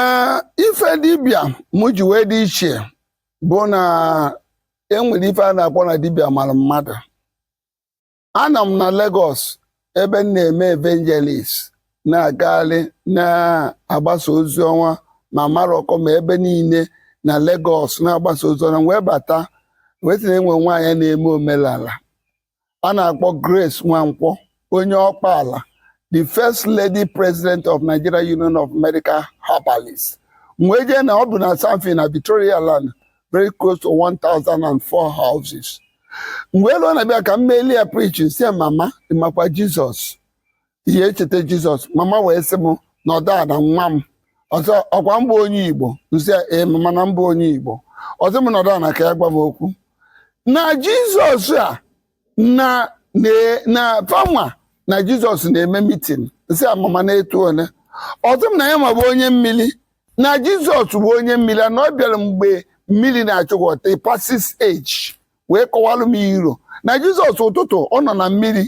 ee ife dibịa mụ ji wee dị iche bụ na enwere ife a na-akpọ na dibịa mara mmadụ anọ m na Lagos ebe m na-eme evangelist na-agagharị na-agbasa ozi ọma ma Maroko ma ebe niile na Lagos na-agbasa ozi ọma wee bata wee sị na enwe nwaanyị na-eme omenala a na-akpọ Grace Nwankwo onye Ọkpala the first lady president of Nigeria Union of Medical Herbalists m wee je na o bu na Sandfill na Victoria Island very close to 1004 houses m wee luo na-abịa ka m meeli ya preaching nsị mama ị makwa Jizọs ihe echeta jizọs mama wee sị m nọdụ ana nwa m ọ sị ọkwa m bụ onye igbo nsị ya ee mama na m bụ onye igbo ọ sị m nọdụ ana ka ya gwa m okwu na jizọs a na na na fanwa na jizọs na-eme mitin nsị ya mama na-etu ole ọ sị m na yanwa bụ onye mmiri na jizọs bụ onye mmiri na ọ bịara mgbe mmiri na-achị water Pisces age wee kọwalụ m iro na jizọs ụtụtụ ọ nọ na mmiri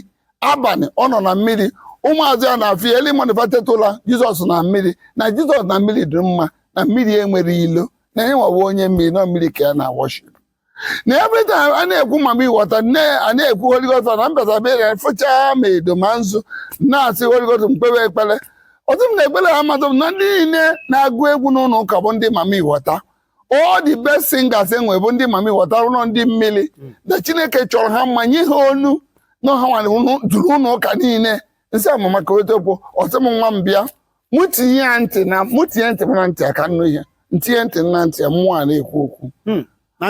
abalị ọ nọ na mmiri ụmụazụ ya na-afụ ya eli manifestetụla jizọs na mmiri na jizọs na mmiri dị mma na mmiri enwerọ ilo na yanwa wa onye mmiri na mmiri ka ya na worship na every time a na-ekwu mami wọta nne a na-ekwu Holy Ghost na mbata bere fụchaa ma edo ma nzu na-asị Holy Ghost m kpewe ekpere ọ sị m na ekpere ha amadụ m na ndị niile na-agụ egwu n'ụlọ ụka bụ ndị mami wọta all the best singers enwe bụ ndị mami wọta na ọ ndị mmiri hmm. na chineke chọrọ ha mma nye ha onu na ọ hanwa na-eduru ụlọ ụka niile nsị ya mama kọwatakwuo ọ sị m nwa m bịa mụ tinye ya ntị na mụ tinye ntị m na ntị ya ka m nụ ihe m tinye ntị na ntị ya mmụọ a na-ekwu okwu hmm. na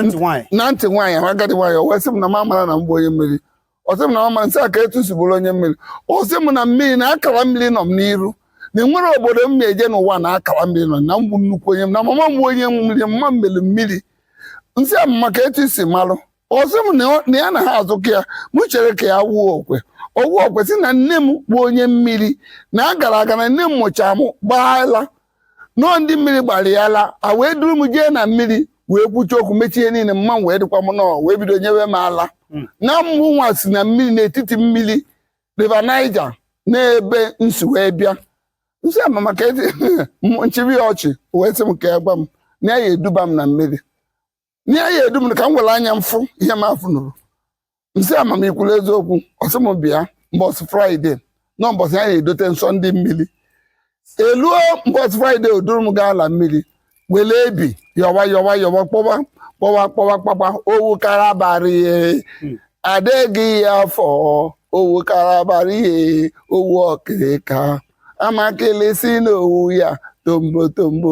ntị nwaanyị agadi nwaanyị o wee sị m na m amara na m bụ onye mmiri ọsị m na ọma nsị ya ka etu m si bụrụ onye mmiri ọsị m na mmiri na akara mmiri nọ m n'iru na enwere obodo m na-eje n'ụwa na akara mmiri nọ na m bụ nnukwu onye m na mama m onye mmiri mma mmiri mmiri nsị ya mama ka etu o si malụ ọsị m na ya na ha azụkọ ya m chere ka ya wụọ okwe ọ wụọ okwe sị na nne m bụ onye mmiri na a gara aga na nne m mụcha m gba ala na ọ ndị mmiri gbara ya ala a wee duru m jee na mmiri wee kwuchaa okwu mechaa ihe niile mama m wee dịkwa mma o wee bido nyewe m ala hmm. na mmụ nwa si na mmiri n'etiti mmiri River Niger n'ebe m si wee bịa nsị ya mama ka m chịba ya ọchị wee sị m ka ya gwa m na ya eduba m na mmiri n'ihe ya edu m ka m were anya m fụ ihe m afụ nụrụ m sị ama m i kwuru eziokwu ọ sị m bịa mbọsị fraịde na mbọsị ya na-edote nsọ ndị mmiri eluo mbọsị fraịde o duru m gaa ala mmiri were ebi yọwa yọwa yọwa kpọwa kpọwa kpọwa kpakpa owu kalabari adịghị ya afọ owu kalabari owu ọkịrịka amakịlị si n'owu ya tombo tombo